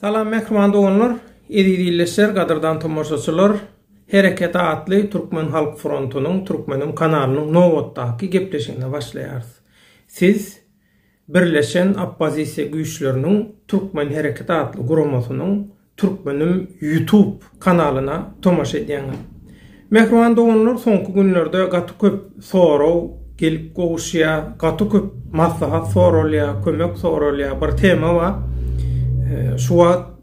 Salam mähriban doganlar, eziz ildeşler, gadyrdan tomaşaçylar. Hereket atly Türkmen halk frontunyň Türkmeniň kanalynyň nobatdaky gepleşigine başlaýarys. Siz Birleşen oppozisiýa güýçleriniň türkmen hereketi atly guramasynyň Türkmenim Ýutub kanalyna tomaşa edýäňiz. Mähriban doganlar soňky günlerde gaty köp sorag gelip gowuşýa, gaty köp maslahat soralýa, kömek soralýa, bir tema bar. Şu wagt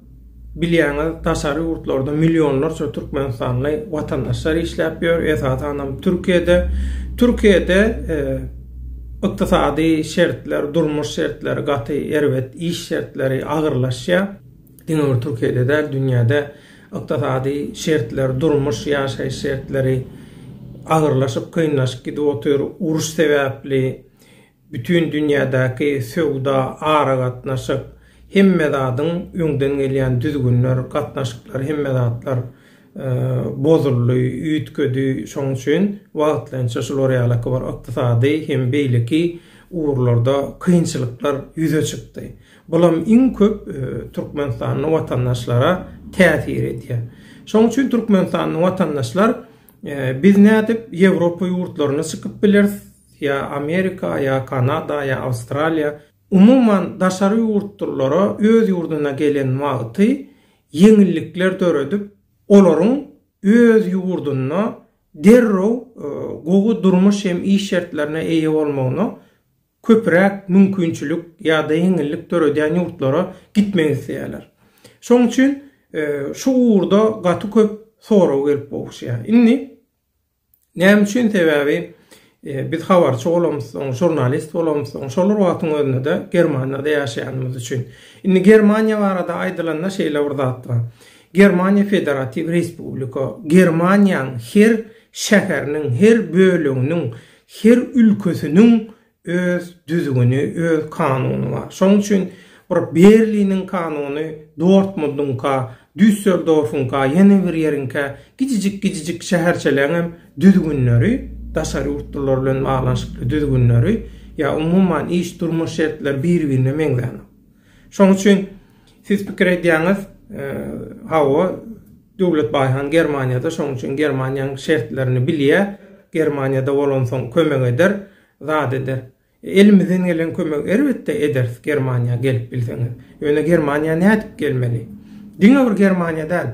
Bilýäňiz, daşary ýurtlarda millionlarça türkmenistanly watandaşlar işläp ýör, esasanam Türkiýede. Türkiýede e, ykdysady şertler, durmuş şertleri gaty erbet, iş şertleri agyrlaşýar. Diňe bir Türkiýede däl, dünýäde ykdysady şertler, durmuş, ýaşaýyş şertleri agyrlaşyp, kynlaşyp gidip otyr. Uruş sebäpli Bütin dünýädäki söwda, aragatnaşyk, hemme zadyň öňden gelýän düzgünler, gatnaşyklar, hemme zatlar bozuldy, üýtgedi. Şoň üçin wagtlaýynça şular ýalaky bir ykdysady hem beýleki ugurlarda kynçylyklar ýüze çykdy. Bulam iň köp türkmenistanly watandaşlara täsir edýär. Şoň üçin türkmenistanly watandaşlar biz nädip Ýewropa ýurtlaryna çykyp bileris? ýa Amerika, ýa Kanada, ýa Awstraliýa, umuman daşary ýurtlulara öz ýurduna gelen wagty ýeňillikler döredip, olaryň öz ýurdunda derrew gowy durmuş hem iş şertlerine eýe bolmagyna köpüräk mümkinçilik ýa-da ýeňillik döredýän ýurtlara gitmek isleýärler. Şonuň üçin şu ugurda gaty köp sorag gelip gowuşýar. Indi Näme üçin? Sebäbi biz habarçy bolamyzsoň, žurnalist bolamyzsoň, şol bir wagtyň özünde-de Germaniýada ýaşaýanymyz üçin. Indi Germaniýa barada aýdylanda şeýle bir zat bar. Germaniýa federatiw respublika. Germaniýanyň her şäheriniň, her böleginiň, her ülkesiniň Öz düzgüni, öz kanuny bar. Şonuň üçin bir Berliniň kanuny Dortmundyňka, Düsseldorfuňka, ýene bir ýeriňkä, kiçijik-kiçijik şäherçeleňem düzgünleri, daşary ýurtlular bilen baglanyşykly düzgünleri, ýa umuman iş-durmuş şertleri bir-birine meňzänok. Şonuň üçin siz pikir edýäňiz, hawa, Döwlet Baýhan Germaniýada, şonuň üçin Germaniýanyň şertlerini bilýär, Germaniýada bolansoň kömek eder. Zat eder. Elimizden gelen kömegi erbetde ederis Germaniýa gelip bilseňiz. Ýöne Germaniýa nädip gelmeli? Diňe bir Germaniýa däl.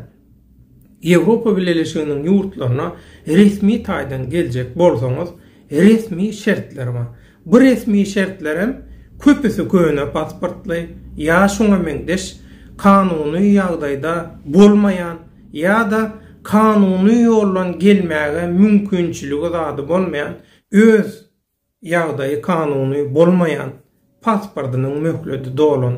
Ýewropa Bileleşiginiň ýurtlaryna resmi taýdan geljek bolsaňyz resmi şertler bar. Bu resmi şertlerem köpüsi köne pasportly ýa şuňa meňzeş kanuny ýagdaýda bolmaýan ýa-da kanuny ýoldan gelmäge mümkinçiligi zady bolmaýan Öz ýagdaýy kanuny bolmaýan, pasportynyň möhledi dolan,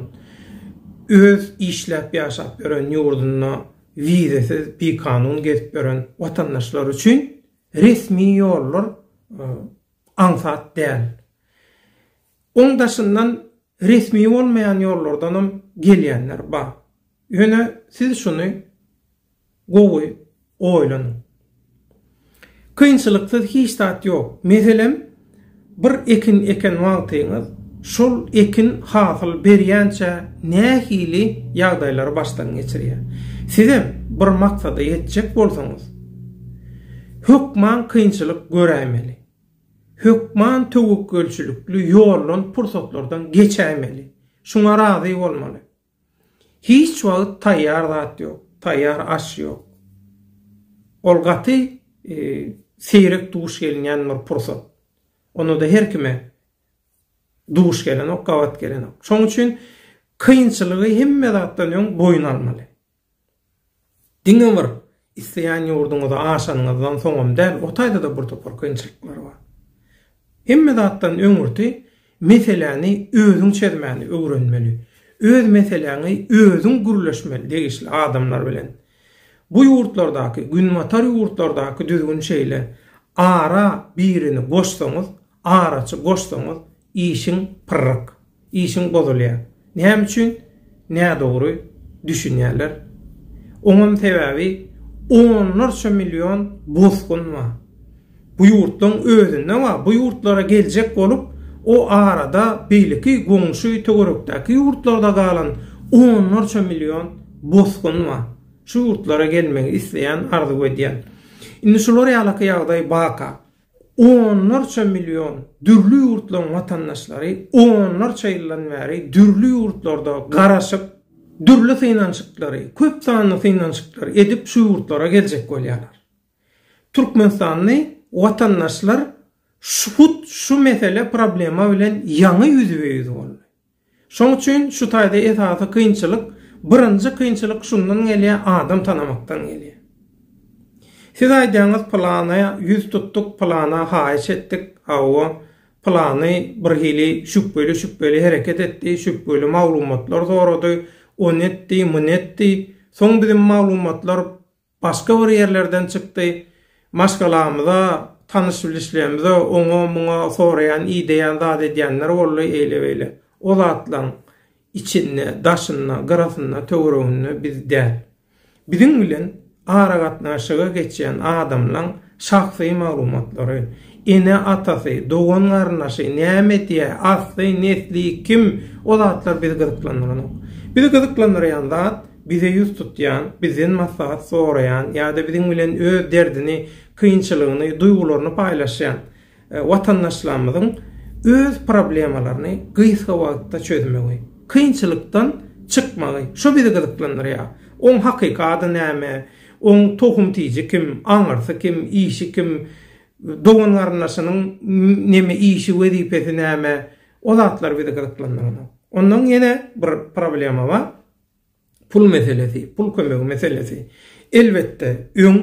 öz işläp ýaşap ýören ýurdunda wizesiz bikanun gezip ýören watandaşlar üçin resmi ýollar aňsat däl. Oň daşyndan Resmi bolmaýan ýollardanam gelýänler bar. Ýöne siz şuny gowy oýlanyň. Kynçylyksyz hiç zat ýok. Meselem, bir ekin eken wagtyňyz, şol ekin hasyl berýänçä nähili ýagdaýlary başdan geçirýär. Sizem bir maksada ýetjek bolsaňyz, hökman kynçylyk göräýmeli. Hökman töwekgelçilikli ýoldan pursatlardan geçäýmeli. Şuňa razy bolmaly. Hiç wagt taýýar zat ýok, taýýar aş ýok. Ol gaty seýrek duş gelinýän bir pursat. Onda-da her kime duş gelenok, gabat gelenok. Şoň üçin kynçylygy hemme zatdan öň boýun almaly. Diňe bir isleýän ýurduňyza aşanyňyzdan soňam däl, ortaýda-da bir topar kynçylyklar bar. Hemme zatdan öňürti meseläni özüň çözmäni öwrenmeli. Öz meseläňi özüň gürleşmeli degişli adamlar bilen. Bu ýurtlardaky, günbatar ýurtlardaky düzgün şeýle, ara birini goşsaňyz, Araçy goşsaňyz işiň pyrryk. Işiň bozulýar. Näme üçin? Nädogry düşünýärler. Oňam sebäbi onlarça million bosgun bar. Bu ýurtlaň özünde bar. Bu ýurtlara geljek bolup o arada beýleki goňşy töwerekdäki ýurtlarda galan onlarça million bosgun bar. Şu ýurtlara gelmegi isleýän arzuw edýän. Indi şular ýalaky ýagdaý baka. Onlarça million dürli ýurtlaryň watandaşlary onlarça ýyldan bäri dürli ýurtlarda garaşyp, dürli synanyşyklary, köp sanly synanyşyklary edip şu ýurtlara geljek bolýarlar. Türkmenistanly watandaşlar hut şu mesele, problema bilen ýaňy ýüzbe-ýüz boldy. Şoň üçin şu taýda esasy kynçylyk, birinji kynçylyk şundan gelýär adam tanamakdan gelýär. Siz aýdýaňyz pylanyýa ýüz tutduk, pylana haýyş etdik, hawa, pylany birhili şübheli şübheli hereket etdi, şübheli maglumatlar sorady, ony etdi, muny etdi, soň biziň maglumatlar, Başga bir ýerlerden çykdy. Maşgalamyza, tanyş-bilişlerimize oňa-muňa soraýan, ideýän zat edýänler boldy, eýle-beýle. O zatlaryň içinde, daşynda, gyrasynda, töwereginde biz däl. Biziň bilen aragatnaşyga geçýän adamlaryň Şahsy maglumatlary, ene-atasy, dogan-garyndaşy, näme edýär, asly, nesli, kim, o zatlar bizi gyzyklandyranok. Bizi gyzyklandyrýan zat, bize ýüz tutýan, bizden maslahat soraýan ýa-da biziň bilen öz derdini, kynçylygyny, duýgularyny paýlaşýan, Watandaşlarymyzyň öz problemalaryny gysga wagtda çözmegi, kynçylykdan çykmagy, şu bizi gyzyklandyrýar. Oň hakyky ady näme, oň tohum-tiji kim, aňyrsy kim, işi kim, dogan-garyndaşynyň neme işi, wezipesi näme, o zatlar bizi gyzyklandyranok. Ondan ýene bir problema bar, pul meselesi, pul kömegi meselesi. Elbetde, öň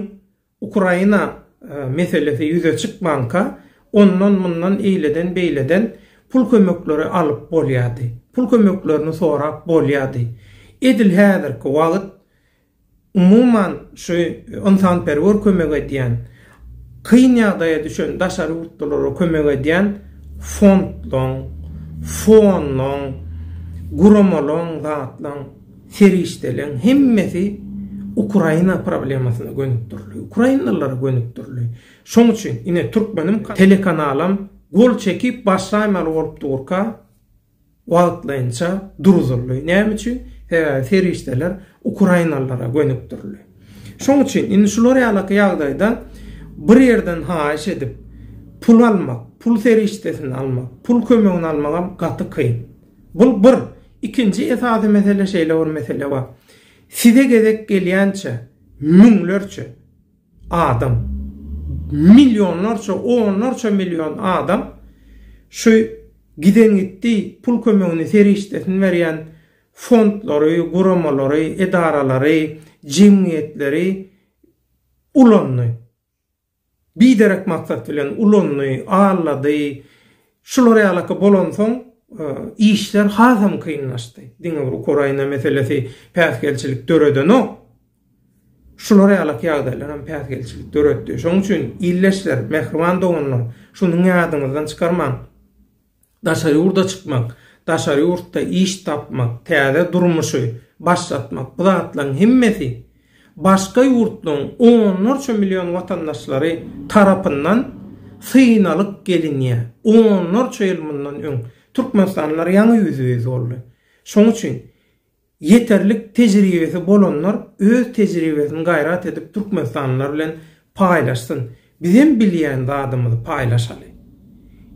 Ukraina meselesi ýüze çykmanka, ondan-mundan eýleden-beýleden pul kömekleri alyp bolýardy. Pul kömeklerini sorap bolýardy. Edil häzirki wagt umuman şu ynsanperwer kömek edýän, kyn ýagdaýa düşen daşary ýurtlulara kömek edýän fondlaň, fonlaň, guramalaň, zatlaň, Serişdeleň hemmesi Ukraina problemasyna gönükdirildi. Ukrainalylara gönükdirildi. Şoň üçin ine Türkmenim telekanalam gol çekip başlaýmaly bolup durka wagtlaýynça duruzyldy. Näme üçin? Sebäbi serişdeler Ukrainalylara gönükdirildi. Şoň üçin indi şular ýalaky ýagdaýda bir ýerden haýyş edip pul almak, pul serişdesini almak, pul kömegini almagam gaty kyn. Bul bir. Ikinji esasy mesele şeýle bir mesele bar. Size gezek gelýänçä müňlerçe adam, millionlarça, onlarça million adam şu giden gitdi, pul kömegini, serişdesini berýän fondlary, guramalary, edaralary, jemgyýetleri ulandy. Biderek maksat bilen ulandy, aldady. Şular ýalyky bolansoň, işler hasam kynlaşdy. Diňe bir Ukraina meselesi päsgelçilik döredenok. Şular ýalyky ýagdaýlar hem päsgelçilik döretdi. Şonuň üçin, ildeşler, mähriban doganlar, şuny ýadyňyzdan çykarmaň. Daşary ýurda çykmak, daşary ýurtda iş tapmak, täze durmuşy başlatmak, bu zatlaryň hemmesi başga ýurtlaryň onlarça million watandaşlary tarapyndan synalyp gelinýär. Onlarça ýyl mundan öň türkmenistanlylar ýaňy ýüzbe-ýüz boldy. Şonuň üçin. Ýeterlik tejribesi bolanlar öz tejribesini gaýrat edip türkmenistanlylar bilen paýlaşsyn. Bizem bilýän zadymyzy paýlaşaly.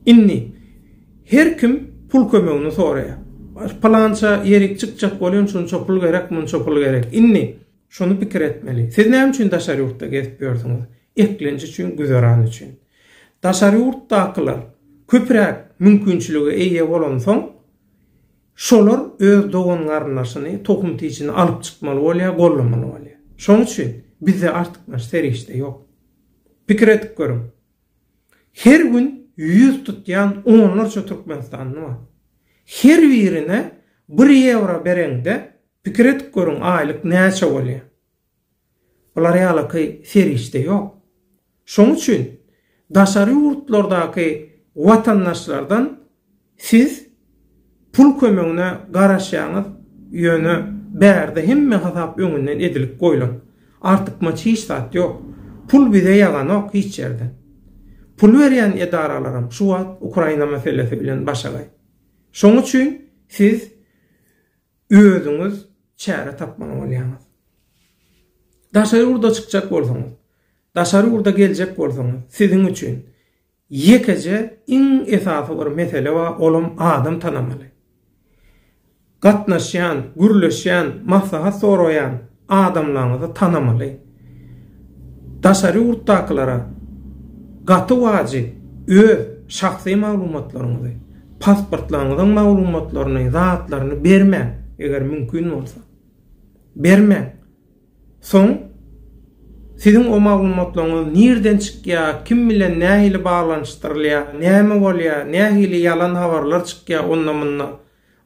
Indi her kim pul kömegini soraýar. Pylança ýerik çykjak bolýan şunça pul gerek munça pul gerek. Indi şuny pikir etmeli. Siz näme üçin daşary ýurtda gezip ýörsüňiz? Eklenç üçin güzeran üçin. Daşary ýurtdakylar köpräk mümkinçilige eýe bolansoň, Şolar öz dogan-garyndaşyny, tohum-tijini alyp çykmaly bolýar, gollamaly bolýar. Şonuň üçin bizde artykmaç serişde ýok. Pikir edip görüň. Her gün ýüz tutýan onlarça türkmenistanly bar. Her birine bir ýewro bereňde, pikir edip görüň, aýlyk näçe bolýar? Bular ýalyky serişde ýok. Şoň üçin daşary ýurtlardaky watandaşlardan siz pul kömegine garaşýaňyz, ýöne bärde hemme hasap öňünden edilip goýlan. Artykmaç hiç zat ýok. Pul bize ýaganok hiç ýerde. Pul berýän edaralaram şu wagt Ukraina meselesi bilen başagaý. Şoň üçin siz özüňiz çäre tapmaly bolýaňyz. Daşary ýurda çykjak bolsaňyz, daşary ýurda geljek bolsaňyz, siziň üçin ýekeje iň esasy bir mesele bar, olam adam tanamaly. Gatnaşýan, gürleşýän, maslahat soraýan Adamlaryňyzy tanamaly. Daşary ýurtdakylara gaty wajyp öz şahsy maglumatlaryňyzy, pasportlaryňyzyň maglumatlaryny, zatlaryny bermäň, eger mümkin bolsa. Bermäň. Soň siziň o maglumatlaryňyz nirden çykýar, kim bilen nähili baglanyşdyrylýar, näme bolýar, nähili ýalan habarlar çykýar onda-munda.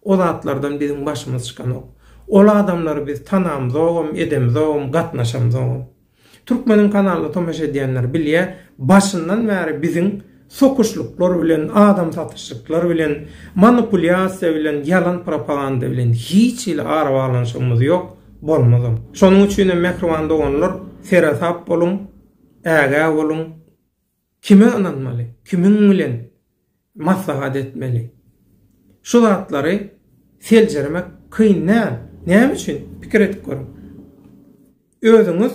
O zatlardan biziň başymyz çykanok. Ol adamlary biz tanamzogam, edemzogam, gatnaşamzogam. Türkmeniň kanalyna tomaşa edýänler bilýär, başyndan bäri biziň sokuşlyklar bilen, adam satyşlyklar bilen, manipulýasiýa bilen, ýalan propaganda bilen hiç hili arabaglanyşygymyz ýok, bolmazam. Şonuň üçinem mähriban doganlar, seresap boluň, ägä boluň. Kime ynanmaly, kimiň bilen maslahat etmeli? Şu zatlary seljermek kyn däl. Näme üçin? Pikir edip görüň. Özüňiz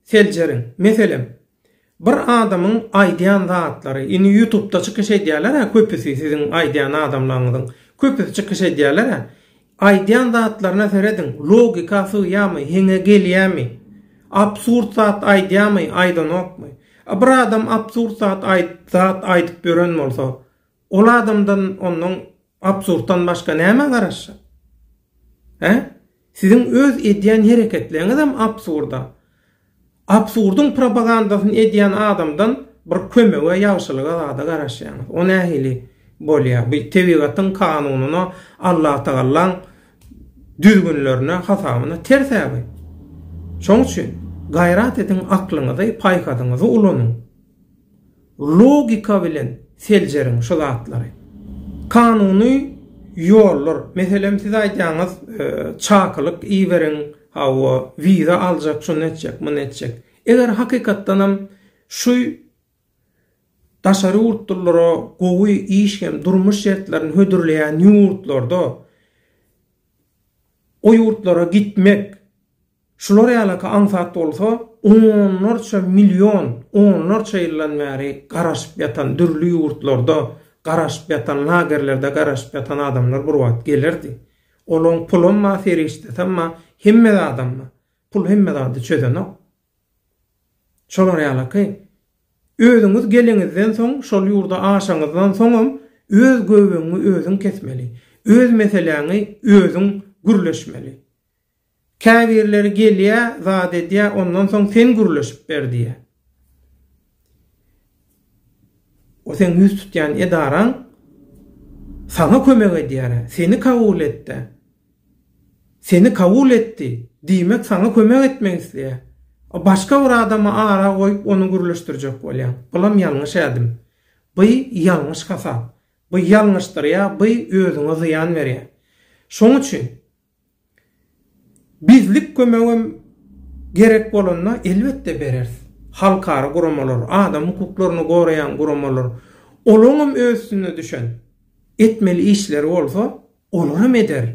seljeriň. Meselem, bir adamyň aýdýan zatlary, indi ýutubda çykyş edýärler-ä köpüsi siziň aýdýan adamlaryňyzyň köpüsi çykyş edýärler-ä. Aýdýan zatlaryna serediň logika sygýamy heňe gelýämi absurd zat aýdýamy aýdanokmy a bir adam absurd zat aýdyp zat aýdyp ýören bolsa ol adamdan ondan absurddan başga näme garaşjak he siziň öz edýän hereketleňizem absurda Absurdyň propagandasyny edýän adamdan bir kömege, ýagşylyga, zada garaşýaňyz. O nähili bolýar? Bu tebigatyň kanunyna, Allatagallaň düzgünlerine, hasabyna ters-ä bu. Şoň üçin gaýrat ediň, aklyňyzy, paýhasyňyzy ulanyň. Logika bilen seljeriň şu zatlary. Kanuny ýollar, meselem siz aýdýaňyz çakylyk iberiň, hawa, wiza aljak, şuny etjek, muny etjek. Eger hakykatdanam şu daşary ýurtlulara gowy iş hem durmuş şertlerini hödürleýän ýurtlarda o ýurtlara gitmek, Şular ýalyky aňsat bolsa, onlarça million, onlarça ýyldan bäri garaşyp ýatan, dürli ýurtlarda garaşyp ýatan, lagerlerde garaşyp ýatan adamlar bir wagt gelerdi. Olaň pulam bar, serişdesem bar, hemme zadam bar. Pul hemme zady çözenok. Şolar ýalyky, özüňiz geleňizden soň, şol ýurda aşaňyzdan soňam öz göbegiňi özüň kesmeli, öz meseläňi özüň gürleşmeli. Käbirleri gelýä, zat edýä, ondan soň sen gürleşip ber diýýä. O seň ýüz tutýan edaraň saňa kömek edýär-ä, seni kabul etd-ä. Seni kabul etdi, diýmek saňa kömek etmek isleýär. A başga bir adamy ara goýup ony gürleşdirjek bolýaň. Bulam ýalňyş ädim. By ýalňyş hasap. By ýalňyşdyrýa, by özüňe zyýan berýä. Şoň üçin Bizlik kömegem gerek bolanda elbetde bereris. Halkara guramalar, adam hukuklaryny goraýan guramalar, olaňam öz üstüne düşen etmeli işleri bolsa, olaram eder.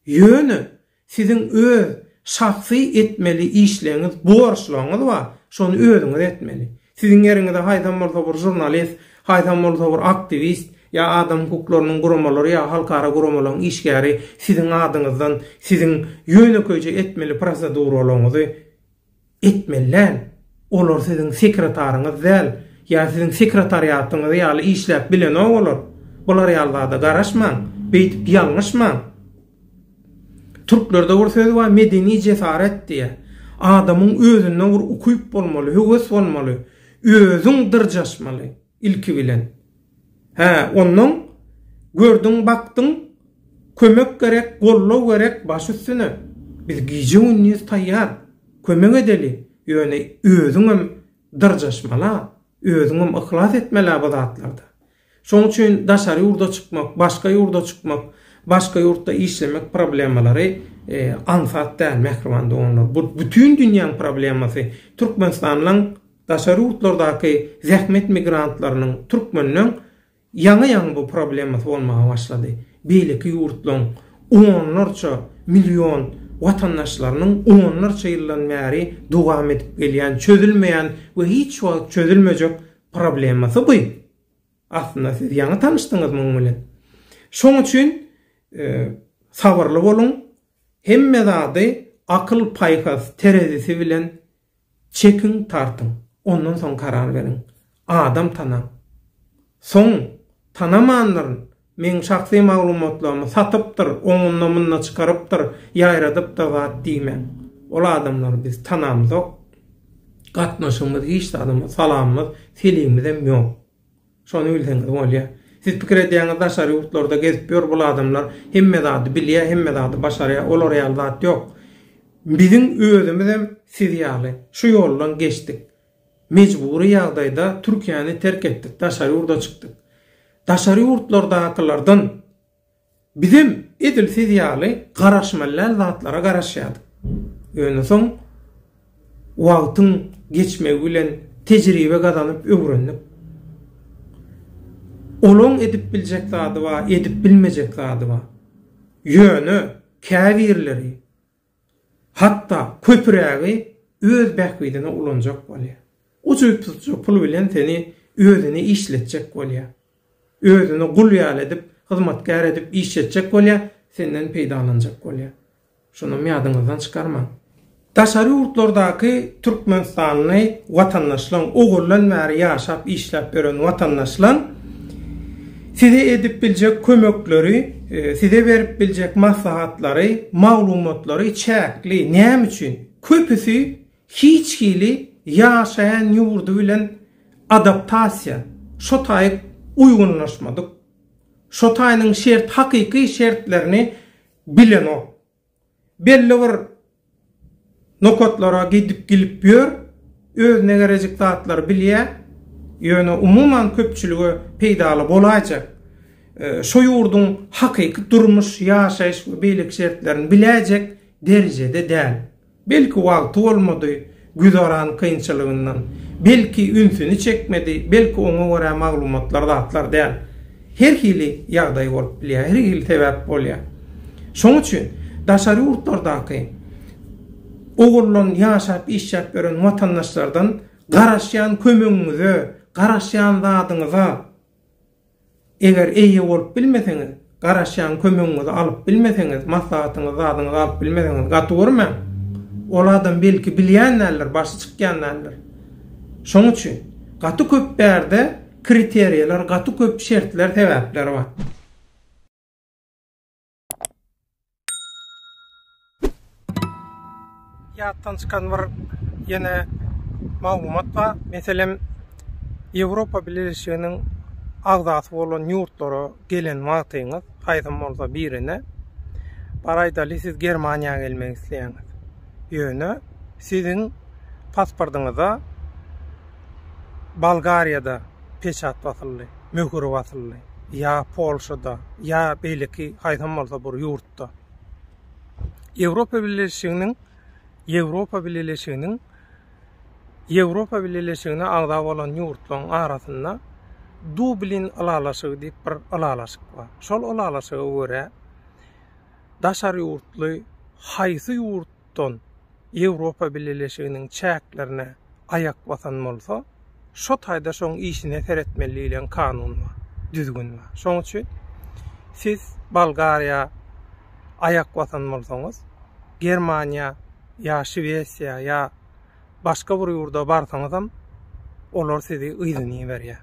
Ýöne siziň öz şahsy etmeli işleňiz, borçlaryňyz bar, şony özüňiz etmeli. Siziň ýeriňize haýsam bolsa bir žurnalist, haýsam bolsa bir aktiwist, ýa adam hukuklarynyň guramalary ýa halkara guramalaryň işgäri siziň adyňyzdan siziň ýönekeýje etmeli proseduralaryňyzy etmeli däl. Olar siziň sekretaryňyz däl, ýa siziň sekretariatyňyz ýaly işläp bilenok olar. Bular ýaly zada garaşmaň, beýdip ýalňyşmaň. Türklerde bir söz bar, medeni jesaret diýýär. Adamyň özünde bir ukyp bolmaly, höwes bolmaly, özüň dyrjaşmaly ilki bilen. Hä, onnoň gördüň, bakdyň, kömek gerek, goldaw gerek, baş üstüne. Biz gije-gündiz taýýar, kömek edeli, ýöne özüňem dyrjaşmal-a, özüňem yhlas etmel-ä bu zatlarda. Şoň üçin daşary ýurda çykmak, başga ýurda çykmak, başga ýurtda işlemek problemalary aňsat däl, mähriban doganlar. Bu bütin dünýäň problemasy. Türkmenistanyň daşary ýurtlardaky zähmet migrantlarynyň, türkmenleň ýaňy-ýaňy bu problemasy bolmaga başlady. Beýleki ýurtlaň onlarça million watandaşlarynyň onlarça ýyldan bäri dowam edip gelýän, çözülmeýän we hiç wagt çözülmejek Problemasy bu. Aslynda siz ýaňy tanyşdyňyz muň bilen. Şoň üçin sabyrly boluň. Hemme zady akyl paýhas terezisi bilen çekiň tartyň. Ondan soň karar beriň. Adam tanaň. Soň tanamanlaryn. Meň şahsy maglumatlarymy satypdyr, oňunda-munda çykarypdyr, ýaýradyp-da zat diýmäň. Ol adamlary biz tanamzok. Gatnaşygymyz hiç zadymyz, salamymyz, selimimizem ýok. Şony bilseňiz bolýar. Siz pikir edýäňiz daşary ýurtlarda gezip ýör bul adamlar, hemme zady bilýär, hemme zady başarýar, olar ýaly zat ýok. Biziň özümizem siz ýaly şu ýoldan geçdik. Mejbury ýagdaýda Türkiýäni terk etdik, daşary ýurda çykdyk. Daşary ýurtlardakylardan bizem edil siz ýaly garaşmalyäl zatlara garaşýardyk. Ýöne soň wagtyň geçmegi bilen tejribe gazanyp öwrendik. Olaň edip biljek zady bar, edip bilmejek zady bar. Ýöne käbirleri Hatda köpürägi öz bähbidine ulanjak bolýar. Ujypsyzja pul bilen seni özüne işletjek bolýar. Özüne gul ýaly edip, hyzmatkär edip işletjek bolýar, senden peýdalanjak bolýar. Şunam ýadyňyzdan çykarmaň. Daşary ýurtlardaky türkmenistanly watandaşlaň, ugurlan bäri ýaşap-işläp ýören watandaşlaň Size edip biljek kömekleri, size berip biljek maslahatlary, maglumatlary çäkli. Näme üçin? Köpüsi hiç hili ýaşaýan ýurdy bilen adaptasiýa, şo taýyp uýgunlaşmadyk. Şo taýynyň şert, hakyky şertlerini bilenok. Belli bir nokatlara gidip gelip ýör, özüne gerejik zatlary bilýä, ýöne umuman köpçülige peýdaly bolaýjak, şo ýurduň hakyky durmuş, ýaşaýyş we beýleki şertlerini biläýjek derejede däl. Belki wagty bolmady, güzeran kynçylygyndan, belki ünsüni çekmedi, belki oňa görä maglumatlar zatlar däl. Her hili ýagdaý bolup bilýär, her hili sebäp bolýar. Şoň üçin daşary ýurtlardaky ogurlan ýaşap işläp ýören watandaşlardan garaşýan kömegiňize, garaşýan zadyňyza Eger eýe bolup bilmeseňiz, garaşýan kömegiňizi alyp bilmeseňiz, maslahatyňyzy, zadyňyzy alyp bilmeseňiz, gaty görmäň. Ol adam belki bilýän däldir, başy çykýan däldir. Şoň üçin, gaty köp bärde kriteriýalar, gaty köp şertler, sebäpler bar. Ýatdan çykan bir ýene maglumat bar. Meselem, Ýewropa Bileleşiginiň agzasy bolan ýurtlara gelen wagtyňyz, haýsam bolsa birine, bar aýdaly, siz Germaniýa gelmek isleýäňiz. Ýöne siziň pasportyňyza Bolgariýada peçat basyldy, möhür basyldy, ýa Polşada, ýa beýleki haýsam bolsa bir ýurtda. Ýewropa Bileleşiginiň Ýewropa Bileleşiginiň Ýewropa Bileleşigine agza bolan ýurtlaryň arasynda Dublin ylalaşygy diýip bir ylalaşyk bar. Şol ylalaşyga görä daşary ýurtly haýsy ýurt ýurtdan Ýewropa Bileleşiginiň çäklerine aýak basan bolsa, şo taýda şoň işine seretmeli diýlen kanun bar, düzgün bar. Şoň üçin siz Bolgariýa aýak basan bolsaňyz, Germaniýa ýa Şwesiýa ýa başga bir ýurda barsaňyzam, olar sizi yzyna iberýär.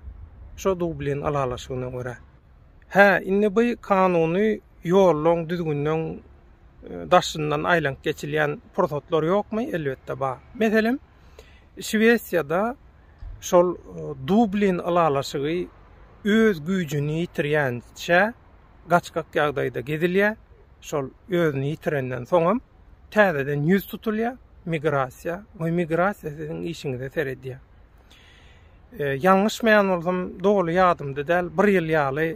Şo Dublin ylalaşygyna görä. Hä, indi bu kanuny ýollaň, düzgünleň daşyndan aýlanyp geçilýän pursatlar ýokmy? Elbetde bar. Meselem, Şwesiýada şol Dublin ylalaşygy öz güýjüni ýitirýänçä gaçgak ýagdaýda gezilýär, şol özüni ýitirenden soňam täzeden ýüz tutulýar, migrasiýa we migrasiýa siziň işiňize seredýär. Ýalňyşmaýan bolsam, doly ýadymda däl, bir ýyl ýaly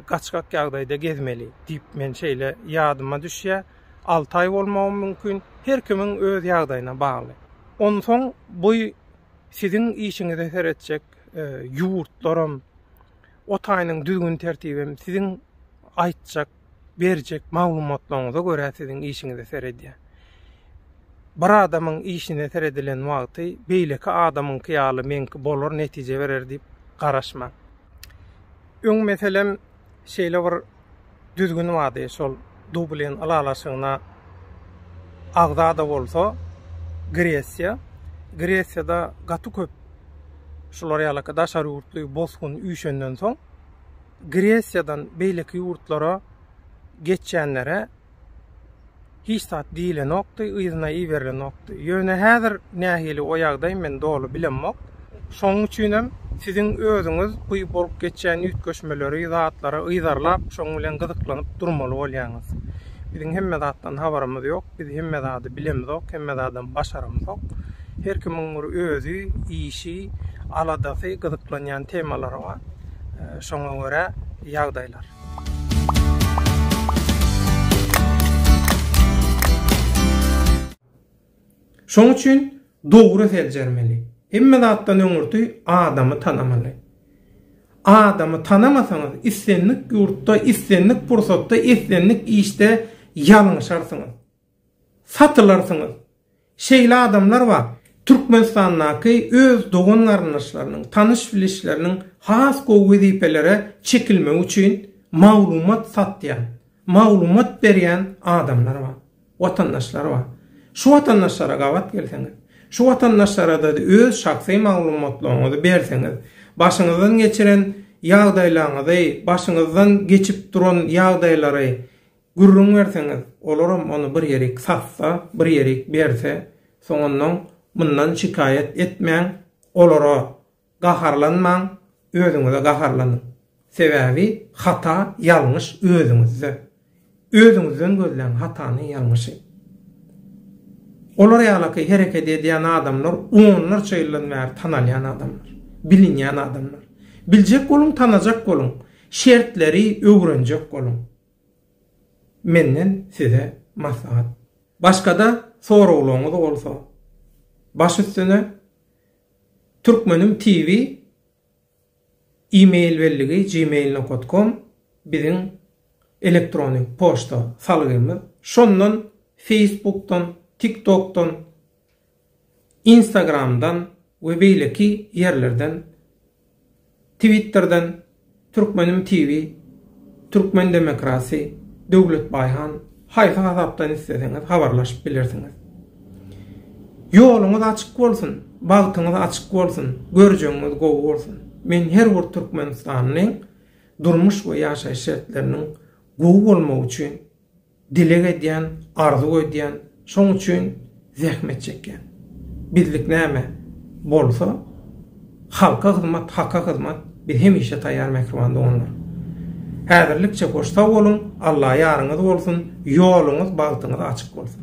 gaçgak ýagdaýda gezmeli diýip, men şeýle ýadyma düşýär. Alty aý bolmagam mümkin. Her kimiň öz ýagdaýyna bagly. Onsoň bu siziň işiňize seretjek ýurtlaram, o taýynyň düzgün-tertibem siziň aýtjak berjek maglumatlaryňyza görä siziň işiňize seredýär. Bir adamyň işine seredilen wagty beýleki adamyňky ýaly meňki bolar netije berer diýip garaşmaň. Öň meselem şeýle bir düzgün bardy şol Dublin ylalaşygyna agza-da bolsa Gresiýa, Gresiýada gaty köp şular ýalyky daşary ýurtly bosgun üýşenden soň Gresiýadan beýleki ýurtlara geçýänlere hiç zat diýilenokdy, yzyna iberilenokdy. Ýöne häzir nähili o ýagdaý men doly bilemok. Şonuň üçin hem siziň özüňiz bu bolup geçýän üýtgeşmeleri, zatlary yzarlap, şonuň bilen gyzyklanyp durmaly bolýaňyz. Biziň hemme zatdan habarymyz ýok, biz hemme zady bilemizok, hemme zadam başaramyzok. Her kimiň bir özi, işi, aladasy, gyzyklanýan temalary bar. şoňa görä ýagdaýlar. Şoň üçin dogry seljermeli. Hemme zatdan öňürti adamy tanamaly. Adamy tanamasaňyz, islendik ýurtda, islendik pursatda, islendik işde ýalňyşarsyňyz. Satylarsyňyz. Şeýle adamlar bar, Türkmenistandaky öz dogan-garyndaşlarynyň, tanyş-bilişleriniň has gowy wezipelere çekilmegi üçin maglumat satýan, maglumat berýän adamlar bar, watandaşlar bar. Şu watandaşlara gabat gelseňiz, şu watandaşlara-da öz şahsy maglumatlaryňyzy berseňiz, başyňyzdan geçiren ýagdaýlaryňyzy, başyňyzdan geçip duran ýagdaýlary Gürrüň berseňiz, olaram ony bir ýerik satsa, bir ýerik berse, soňundan mundan şikaýat etmäň, olara gaharlanmaň, özüňize gaharlanyň. Sebäbi hata, ýalňyş özüňizde. Özüňizden gözläň hatany, ýalňyşy. Olar ýalaky hereket edýän adamlar onlarça ýyldan bäri tanalýan adamlar, bilinýän adamlar. Biljek boluň, tanajak boluň, şertleri öwrenjek boluň. Menden size maslahat. Başgada soraglaryňyz bolsa baş üstüne Türkmenim TV e-mail bellige gmail nokat kom biziň elektrony poçta salgymyz şondan feýsbukdan tiktokdan Instagramdan we beýleki ýerlerden Twitterden Türkmenim TV Türkmen demokrasy Döwletbaýhan haýsy hasapdan isleseňiz habarlaşyp bilersiňiz. Ýoluňyz açyk bolsun, bagtyňyz açyk bolsun, görjegiňiz gowy bolsun. Men her bir türkmenistanlyň durmuş we ýaşaýyş şertleriniň gowy bolmagy üçin Dileg edýän, arzuw edýän, şoň üçin zähmet çekýän. Bizlik näme bolsa, halka hyzmat, haka hyzmat, biz hemişe taýýar mähriban doganlar. Häzirlikçe hoş sag boluň, Alla ýaryňyz bolsun, ýoluňyz, bagtyňyz açyk bolsun.